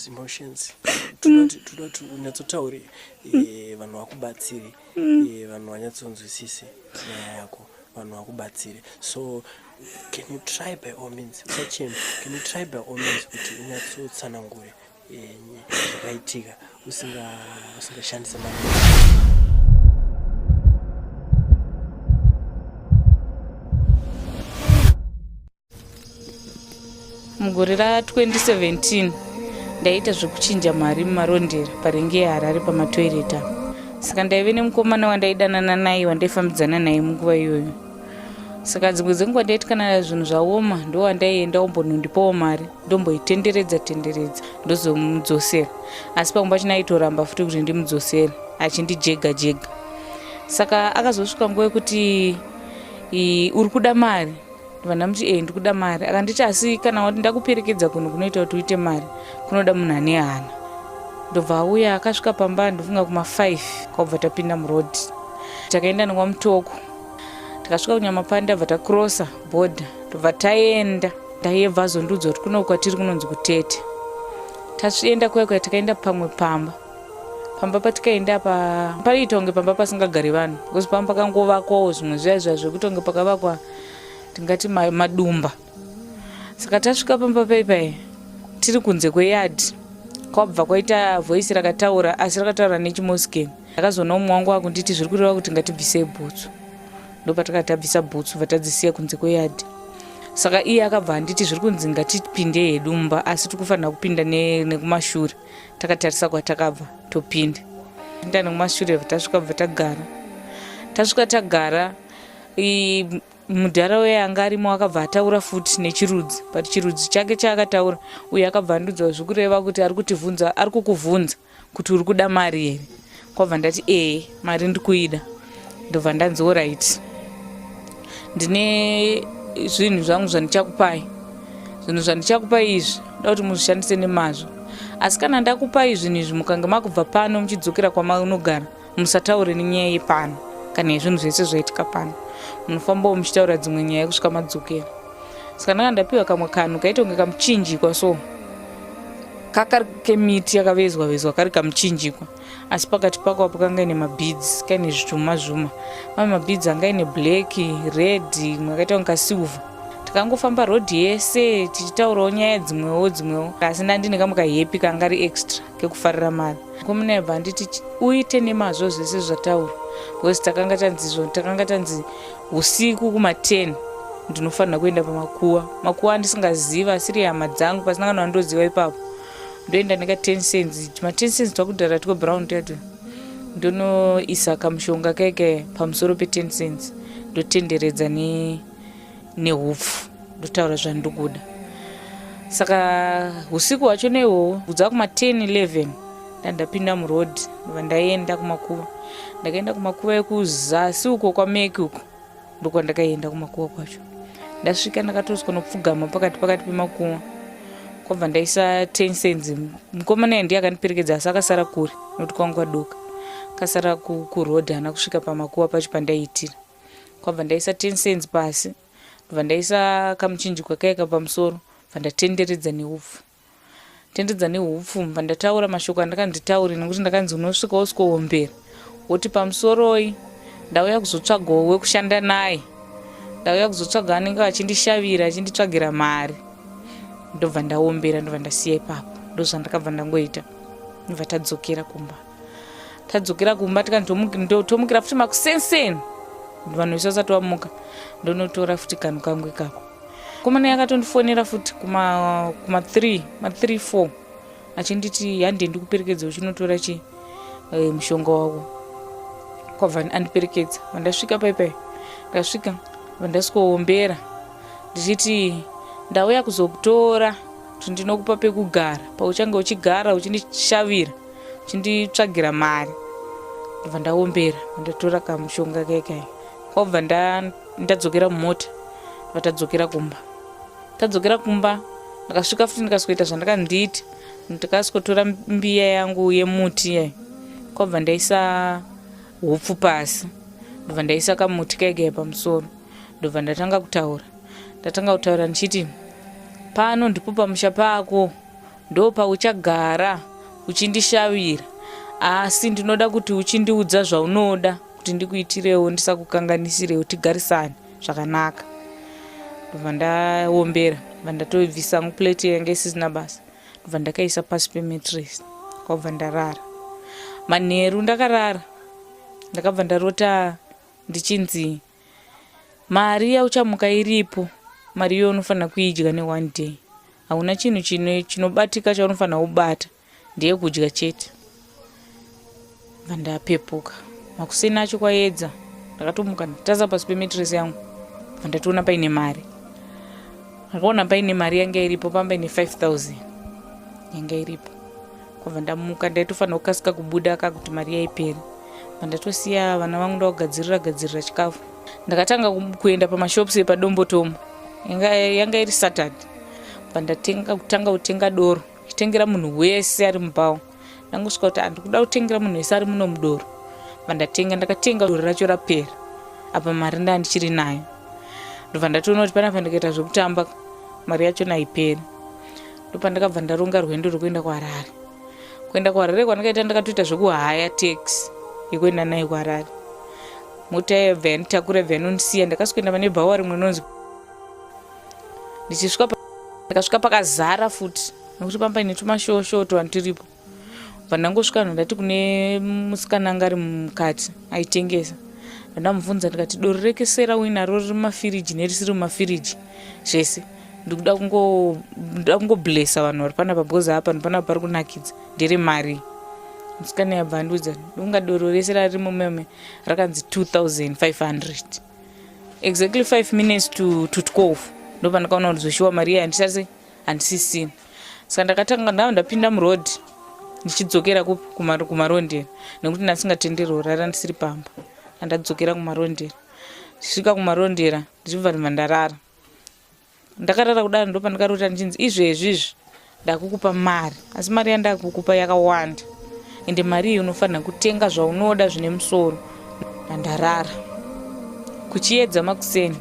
emotions toda kuti unyatsotaure eh, vanhu vakubatsire eh, vanhu vanyatsonzwisise nyaya yako vanhu vakubatsire so can you try by all means sachem can you try by all means kuti unyatsotsanangure eh, zvakaitika usingashandise ma mugore ra 2017 ndaiita zvekuchinja mari mumarondera parengi yeharare pamatoireti apo saka ndaive nemukomana wandaidanana naye wandaifambidzana naye munguva iyoyo saka dzimwe dzenguva ndaiti kana zvinhu zvaoma ndo wandaienda ombonondipawo mari ndomboitenderedza tenderedza ndozomudzosera asi pamwe pachina aitoramba futi kuti ndimudzosere achindijega jega saka akazosvika nguva yekuti uri kuda mari vana muti ee ndikuda mari akanditi asi kana wati ndakuperekedza kunhu kunoita kuti uite mari kunoda munhu ane hana ndobva auya akasvika pamba ndofunga kuma5 kwabva tapinda muroad takaenda nekwamutoko tikasvika kunyamapanda bva takrosa bhodha tobva taenda ndayebva azondiudza kuti kuno kwatiri kunonzi kutete tasienda kuya kuya takaenda pamwe pamba pamba patikaenda apa paiita kunge pamba pasingagari vanhu because pamba pakangovakwawo zvimwe zviya zviya zvekuti kunge pakavakwa tingati madumba saka tasvika pamba paipai tiri kunze kweyadi kwabva kwaita voice rakataura asi rakataura nechimoskeni ndakazoona umwe wangu wakunditi zviri kureva kuti ngatibvisei bhutsu ndopatakatabvisa bhutsu vatadzisiya kunze kweyadi saka iye akabva handiti zviri kunzi ngatipinde hedumba asi tiri kufanira kupinda nekumashure takatarisa kwatakabva topinda pinda nekumashure tasvika bva tagara tasvika tagara mudhara uye anga arimo akabva ataura futi nechirudzi but chirudzi chake chaakataura uye akabva andiudza zvekureva kuti ari kutivhunza ari kukuvhunza kuti uri kuda mari here kwabva ndati ee mari ndikuida ndobva ndanzi orit ndine zvinhu zvangu zvandichakupai zvinhu zvandichakupai izvi nda kuti muzvishandise nemazvo asi kana ndakupai zvinhu izvi mukange makubva pano muchidzokera kwamaunogara musataure nenyaya yepano kana yezvinhu zvese zvaitika pano munofambawo muchitaura dzimwe nyaya kusvika madzokera saka ndanga ndapiwa kamwe kanhu kaita kunge kamuchinjikwa so kakari kemiti yakavezwa vezwa kari kamuchinjikwa asi pakati pako apo kanga ine mabids kaine zvituma zvuma mamwe mabids anga ine black red imwe akaita kunge kasilver takangofamba road yese tichitaurawo nyaya dzimwewo dzimwewo asi ndandine kamwe kahepi kanga ri extra kekufarira mari komunebva anditi uite nemazvo zvese zvataura because takanga tanzi takanga tanzi Usiku kuma 10 ndinofanira kuenda pamakuwa. Makuwa andisingaziva asiri hama dzangu pasina kana wandoziva ipapo. Ndoenda neka 10 cents. Ma 10 cents twakudhara two brown tatu. Ndonoisa kamushonga keke pamusoro pe 10 cents. Ndotenderedza ne nehupfu. ndotaura zvandikuda saka usiku hwacho neihwohwo kudza kuma 10 11 ndandapinda muroad ndobva ndaienda kumakuva ndakaenda kumakuva ekuzasi uko kwameki uko ndokwandakaienda kumakuva kwacho ndasvika ndakatoswa nopfugama pakati pakati pemakuva kwabva ndaisa ten cents mukomana ye ndiye akandiperekedza asi akasara kure nokuti kwangu kwadoka akasara kuroad haana kusvika pamakuva pacho pandaiitira kwabva ndaisa ten cents pasi ndobva ndaisa kamuchinjikwa kaya kapamusoro bva ndatenderedza neupfu tenderedza neupfu bva ndataura mashoko andakanzi taure nekuti ndakanzi unosvika wosikowombera woti pamusoroi ndauya kuzotsvagawo wekushanda naye ndauya kuzotsvaga anenge achindishavira achinditsvagira mari ndobva ndaombera ndobva ndasiya ipapo ndozvandakabva ndangoita ndobva tadzokera kumba tadzokera kumba tikantomukira futi makusenseni vanhu vese vasati vamuka ndonotora futi kanhu kangu ikako komana yakatondifonera futi kuma 3 ma 3 4 achinditi hande ndikuperekedza uchinotora chi eh, mushonga wako kwabva andiperekedza vandasvika paipai ndasvika vandasvikowombera ndichiti ndauya kuzokutora kuti ndinokupa pekugara pauchange uchigara uchindishavira chinditsvagira mari ndobva ndaombera ndatora kamushonga kaikai kwakubva ndadzokera mumota ndobva tadzokera kumba tadzokera kumba ndakasvika futi ndikazoita zvandakandiita ndikazotora mbiya yangu yemuti yayi kwakubva ndaisa hupfu pasi ndobva ndaisa kamuti kaikai pamusoro ndobva ndatanga kutaura ndatanga kutaura ndichiti pano ndipo pamusha pako Ndopauchagara uchindishavira asi ndinoda kuti uchindiudza zvaunoda kuti ndikuitirewo ndisakukanganisirewo tigarisane zvakanaka ndobva ndaombera bva ndatobvisa yangu plate yanga isisina basa ndobva ndakaisa pasi pemetres kwabva ndarara manheru ndakarara ndakabva ndarota ndichinzi mari yauchamuka iripo mari iyoyo unofanira kuidya neone day hauna chinhu chinobatika chaunofanira kubata ndeye kudya chete vandapepuka makuseni acho kwayedza ndakatomuka ndataza pasi pemetresi yangu vandatoona paine mari ndakaona paine mari yanga iripo pamba ine 5000 yanga iripo kwabva ndamuka ndaitofanira kukasika kubuda ka kuti mari yaiperi mandatosiya vana vangu ndakugadzirira gadzirira chikafu ndakatanga kuenda pamashops epadombotomo yanga iri saturday pandatanga kutenga doro chitengera munhu wese ari mubawo ndangosvika kuti andikuda kutengera munhu wese ari muno mudoro pandatenga ndakatenga doro racho rapera apa mari ndaa ndichiri nayo ndobva ndatoona kuti panapa ndikaita zvekutamba mari yacho naiperi ndopandakabva ndaronga rwendo rwekuenda kuharare kuenda kuharare kwandakaita ndakatoita zvekuhaya tax yekuenda nayo kuharare mota yebva yanditakura bva yanondisiya ndakasikuenda pane bhawa rimwe nonzi ndichisvika ndakasvika pakazara futi nekuti pamba ine tumashoshoto vanhu tiripo pandangosvika vanhu ndati kune musikana anga ari mukati aitengesa ndamubvunza ndikati doro rekesera uinaro riri mumafiriji nerisiri mumafiriji zvese ndikuda kungoda kungoblessa vanhu vari panapa because apa ndipana pari kunakidza ndere mari musikana yabva andiudza ndonga doro rese rari mumeme rakanzi 2500 exactly 5 minutes to, to 12 ndobva ndakaona kuti zvoshiwa mari iye handisase handisisina saka ndakatanga ndava ndapinda muroad ndichidzokera kumarondera nekuti ndasingatenderi kurara ndisiri pamba andadzokera kumarondera ndisvika kumarondera ndichibva ndibva ndarara ndakarara kudaro ndo pandakarota ndichinzi izvezvi izvi ndakukupa mari asi mari yandakukupa yakawanda ende mari iyi unofanira kutenga zvaunoda zvine musoro ndarara kuchiedza makuseni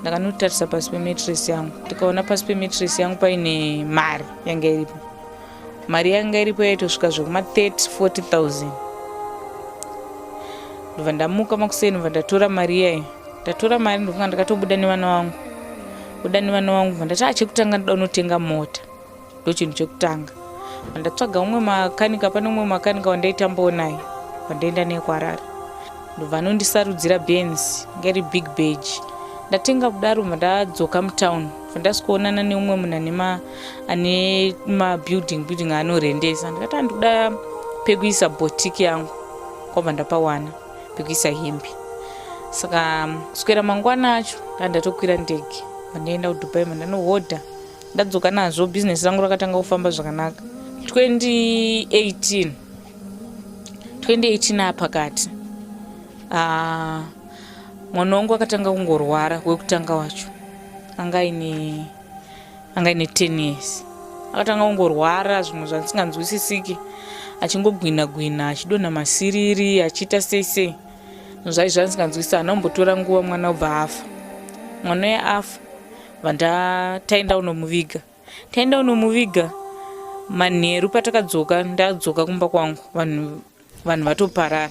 ndakanotarisa pasi pemetres yangu ndikaona pasi pemetres yangu paine mari yanga iripo mari yanga iripo yaitosvika zvekuma 30 40000 ndobva ndamuka makuseni bva ndatora mari iyayo ndatora mari ndofunga ndakatobuda nevana vangu buda nevana vangu bva ndati achekutanga ndoda unotenga mota ndochinhu chekutanga andatsvaga umwe makanika pane umwe makanika wandaitambawo naye wandaenda naye kuharare ndobva anondisarudzira benz ngeri big bag ndatenga kudaro bva ndadzoka mutown bva ndasikuonana neumwe munhu ane ane mabuilding building anorendesa ndikati andikuda pekuisa botiki yangu kwabva ndapawana pekuisa hembe saka kuswera mangwana acho ndandatokwira ndege vandaenda kudubai mandanohodha ndadzoka nazvo business rangu rakatanga kufamba zvakanaka 2018 2018 apakati ah, mwana wangu akatanga kungorwara wekutanga wacho anga aine anga aine 10 years akatanga kungorwara zvimwe zvandisinganzwisisiki achingogwina gwina achidonha masiriri achiita sei sei zvinhu zvai zvandisinganzwisisa hana kumbotora nguva mwana obva afa mwana uye afa vanda taenda unomuviga taenda unomuviga manheru patakadzoka ndadzoka kumba kwangu vanhu vanhu vatoparara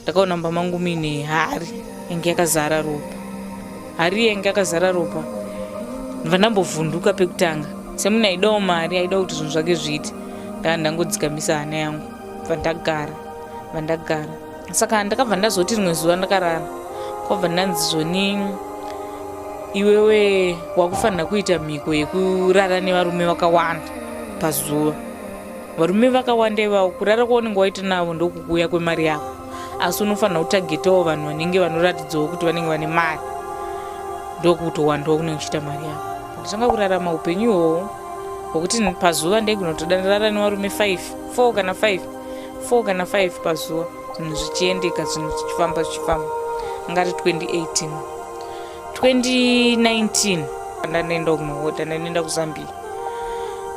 ndakaona mumba mangu muine hari yange yakazara ropa hari yange yakazara ropa vandambovhunduka pekutanga semunhu aidawo mari aida kuti zvinhu zvake zviite ndaa ndangodzikamisa hana yangu vandagara vandagara saka ndakabva ndazoti rimwe zuva ndakarara kwabva ndanzi zvoni iwewe wakufanira kuita mhiko yekurara nevarume vakawanda pazuva varume vakawanda ivavo kurara kwaunenge waita navo ndokukuuya kwemari yako asi unofanira kutagetawo vanhu vanenge vanoratidzawo kuti vanenge vane mari ndokutowandawo kunenge uchiita mari yako nditanga kurarama upenyu ihoho hwokuti pazuva ndeginotoda ndarara nevarume five four kana five 4 kana 5 pazuva zvinhu zvichiendeka zvinhu zvichifamba zvichifamba ngati 2018 2019 ndanoenda kunohota ndanoenda kuzambia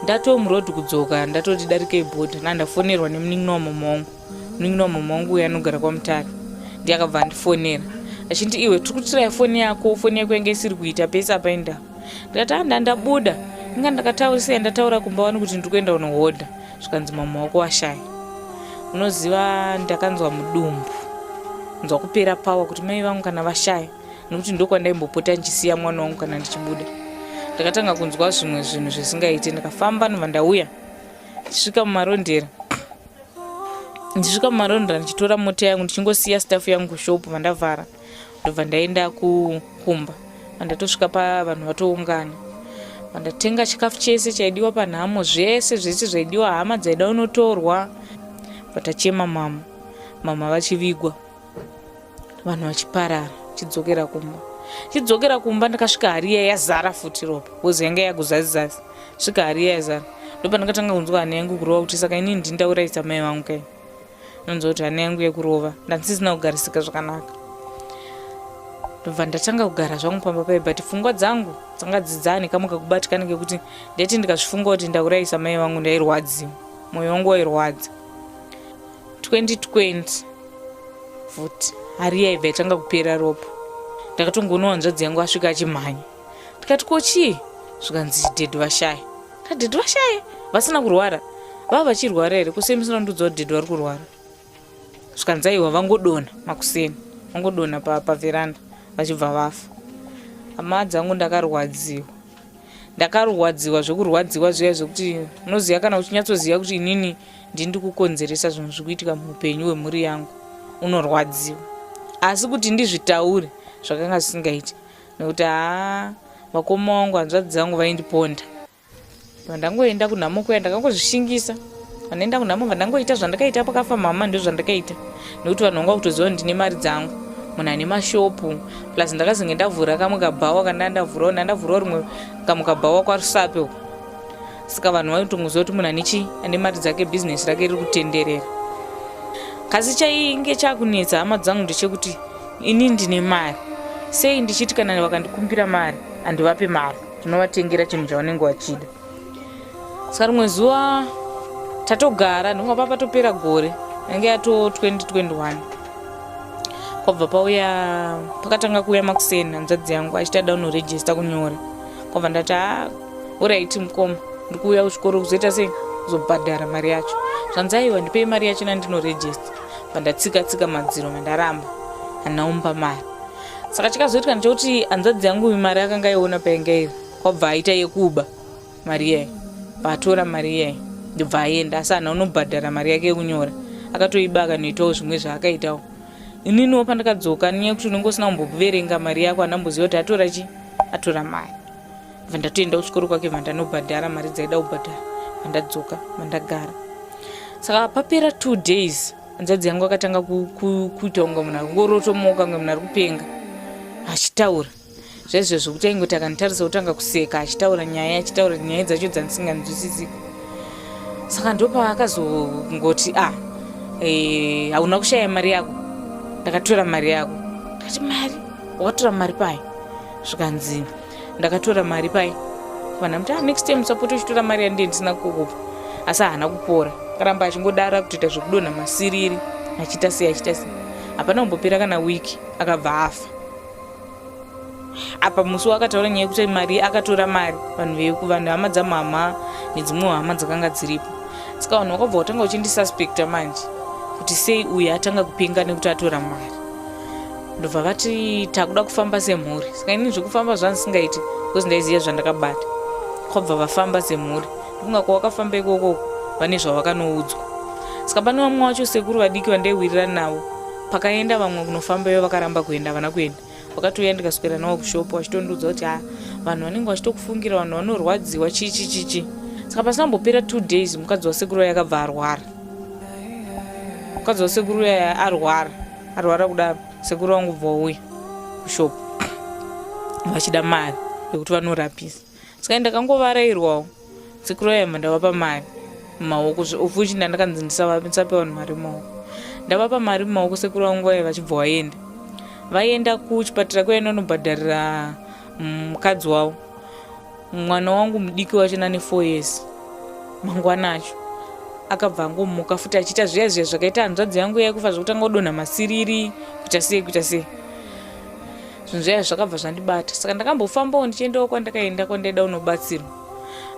ndatomuroad kudzoka ndatoti darika ibhodha nandafonerwa nemunin'ina wamama wangu munin'ina wamama wangu uye anogara kwamutare ndiye akabva andifonera achindi iwe tiri kutiraya foni yako foni yako yange isiri kuita pese apainda ndikati andandabuda inga ndakataurisa yandataura kumba wani kuti ndiri kuenda kunohodha zvikanzi mama wako washaya unoziva ndakanzwa mudumbu nzwa kupera pawa kuti mai vangu kana vashaya nokuti ndokwandaimbopota ndichisiya mwana wangu kana ndichibuda ndakatanga kunzwa zvimwe zvinhu zvisingaiti ndakafamba nova ndauya ndisvika mumarondera ndisvika mumarondera ndichitora mota yangu ndichingosiya staff yangu kushopu vandavhara ndobva ndaenda kukumba andatosvika pavanhu vatoungana andatenga chikafu chese chaidiwa panhamo zvese zvese zvaidiwa hama dzaida unotorwa vatachema mama mama vachivigwa vanhu vachiparara chidzokera kumba chidzokera kumba ndakasvika hari iya yazara futi ropa bcoz yanga yaguzazizasi svika hari iya yazara ndopandakatanga kunzwa hana yangu kurova kuti saka ini ndindauraisa mai vangu kai ndonzwa kuti hana yangu yekurova ndandisisina kugarisika zvakanaka ndobva ndatanga kugara zvangu pamba paye but pfungwa dzangu dzanga dzidzani kamwe kakubatikana kekuti ndeti ndikazvifunga kuti ndaurayisa mai vangu ndairwadziwa mwoyo wangu wairwadza 2020 futi hari yaibva yatanga kupera ropa ndakatongoona hanzvadzi yangu asvika achimhanya ndikati ko chii zvikanzi chidhedhi vashaya Adhidhi vashaye vasina kurwara vava vachirwara here kuseni musina kundiudza kuti dhidhi vari kurwara zvikanzi aiwa vangodona makuseni vangodona pavheranda vachibva vafa hama dzangu ndakarwadziwa ndakarwadziwa zvekurwadziwa zviya zvekuti unoziva kana uchinyatsoziva kuti inini ndini ndikukonzeresa zvinhu zviri kuitika muupenyu hwemhuri yangu unorwadziwa asi kuti ndizvitaure zvakanga zvisingaiti nekuti haa vakoma wangu hanzvadzi dzangu vaindiponda vandangoenda kunhamo kuya ndakangozvishingisa vanoenda kunhamo vandangoita zvandakaita pakafa mama ndozvandakaita nekuti vanhu vanga kutoziva kuti ndine mari dzangu munhu ane mashopu plus ndakazenge ndavhura kamwe kabhawa kandandavhurawo ndandavhurawo rimwe kamwe kabhawa kwarusape uko saka vanhu vanotongoziva kuti munhu ane chii ane mari dzake bhizinesi rake riri kutenderera kasi chainge chakunetsa hama dzangu ndechekuti ini ndine mari sei ndichiti kana vakandikumbira mari handivape mari ndinovatengera chinhu chavanenge vachida saka rimwe zuva tatogara ndinga papa topera gore yange yato 2021 kwabva pauya pakatanga kuuya makuseni hanzvadzi yangu achita daunoregista kunyora kwabva ndati Horaiti mukoma, ndiri kuuya kuchikoro kuzoita sei? Kuzobhadhara mari yacho. Zvanzaiwa ndipei mari yacho nandinoregista. Pandatsika tsika madziro mandaramba. Anaumba mari. Saka chakazoitika ndechekuti hanzvadzi yangu mari akanga aiona painga iri. Kwabva aita yekuba mari iyayo. Paatora mari iyayo ndobva aenda asi hana unobhadhara mari yake yekunyora. Akatoiba akanoitawo zvimwe zvaakaitawo. Ininiwo pandakadzoka nenyaya yekuti unenge usina kumboverenga mari yako handamboziva kuti atora chii? Atora mari. vandatoenda kuchikoro kwake vandanobhadhara mari dzaida kubhadhara vandadzoka vandagara saka papera two days hanzvadzi yangu akatanga kuita kunge munhu ari kungorotomoka kunge munhu ari kupenga achitaura zvaizvo zvokuti aingoti akanditarisa kuti anga kuseka achitaura nyaya achitaura nyaya dzacho dzandisinganzwisisiko saka ndopa akazongoti a ah, eh, hauna kushaya mari yako ndakatora mari yako ndati mari wakatora mari payo zvikanzi ndakatora mari paye vanhu amuti ah, next time usapota uchitora mari yandiye ndisina kukupa asi haana kupora akaramba achingodara kutoita zvekudonha masiriri achiita sei achiita sei hapana kumbopera kana wiki akabva afa apa musi waakataura nyaya yekuti mari akatora mari vanhu vekuvanhu hama dzamama nedzimwewo hama dzakanga dziripo saka vanhu vakabva kutanga uchindisuspecta manje kuti sei uyu atanga kupenga nekuti atora mari ndobva vati takuda kufamba semhuri saka ini zvekufamba zvandisingaiti because ndaiziva zvandakabata kwabva vafamba semhuri ndikunga kwawakafamba ikoko vane zvavakanoudzwa saka pane vamwe wacho sekuru vadiki vandaihwirira navo pakaenda vamwe kunofamba ivo vakaramba kuenda havana kuenda vakatouya ndikaswera navo kushopo vachitondiudza kuti ha vanhu vanenge vachitokufungira vanhu vanorwadziwa chichi chichi saka pasina mbopera two days mukadzi wasekuru vaya akabva arwara mukadzi wasekuru vaya arwara arwara kudaro sekuru vangu bva uya kushop vachida mari yekuti vanorapisa saka ndakangovarairwawo sekuru vayamba ndavapa mari mumaoko ofuchi ndandakanzi ndisape vanhu mari mumaoko ndavapa mari mumaoko sekuru vangu vaya vachibva vaenda vaienda kuchipatara kuya inonobhadharira mukadzi wavo mwana wangu mudiki wacho nane four years mangwana acho akabva angomuka futi achiita zviya zviya zvakaita hanzvadzi yangu yaikufa zvekutanga kudonha masiriri kuita sei kuita sei zvinhu zvaya zvakabva zvandibata saka ndakambofambawo ndichiendawo kwandakaenda kwandaida unobatsirwa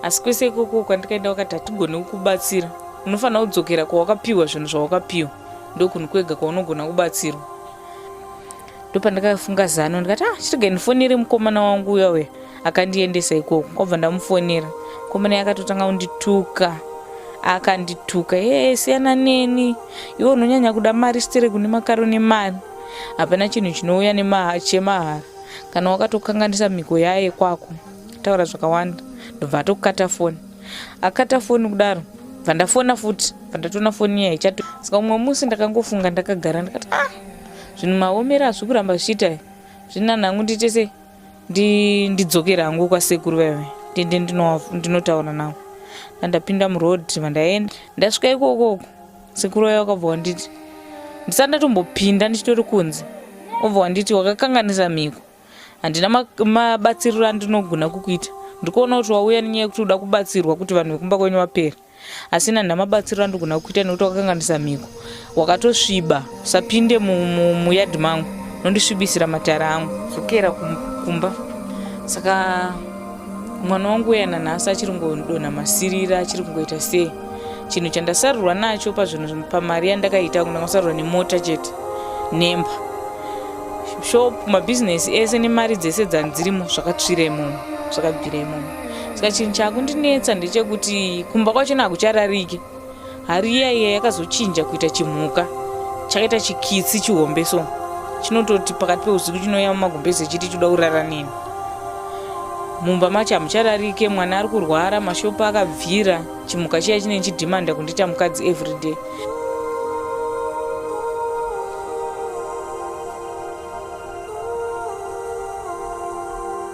asi kwese ikoko kwandikaenda wakati hatigone kukubatsira unofanira kudzokera kwawakapiwa zvinhu zvawakapiwa ndokunhu kwega kwaunogona kubatsirwa ndopandakafunga zano ndikati ah chirega ndifonere mukomana wangu uya uya akandiendesa ikoko kwabva ndamufonera mukomana ye akatotanga kundituka akandituka ee siyana neni iwe unonyanya kuda mari sitere kune makaro nemari hapana chinhu chinouya chemahara kana wakatokanganisa mhiko yaye kwako taura zvakawanda ndobva atokata foni akata foni kudaro bva ndafona futi bva ndatona foni iya ichato saka umwe musi ndakangofunga ndakagara ndikati ah Zvinhu maomera zviri kuramba zvichiita zvini nani hangu ndiite sei ndidzokere hangu kwasekuru vaive ndiende ndinotaura navo ndandapinda muroad vandaenda ndasvika ikokoko sekuru vaive vakabva wanditi ndisati ndatombopinda ndichitori kunze obva wanditi wakakanganisa mhiko handina mabatsiriro andinogona kukuita ndikuona kuti wauya nenyaya yekuti uda kubatsirwa kuti vanhu vekumba kwenyu vapere asina nhamabatsiro andogona kukuita nekuti wakakanganisa mhiko wakatosviba usapinde muyadhi mangu nondisvibisira matara angu zokera kumba saka mwana wangu uya nanhasi achiri kungodonha masirira achiri kungoita sei chinhu chandasarurwa nacho pazvinhu pamari yandakaita ndakasarurwa nemota chete nemba shop mabhizinesi ese nemari dzese dzandzirimo zvakatsvira imomo zvakabvira imomo saka chinhu chakundinetsa ndechekuti kumba kwachona hakuchararike hari iya iya yakazochinja kuita chimhuka chakaita chikitsi chihombe so chinototi pakati peusiku chinouya mumagumbezi chiti choda kurara nini mumba macho hamuchararike mwana ari kurwara mashopo akabvira chimhuka chiya chinei chidhimanda kundiita mukadzi everyday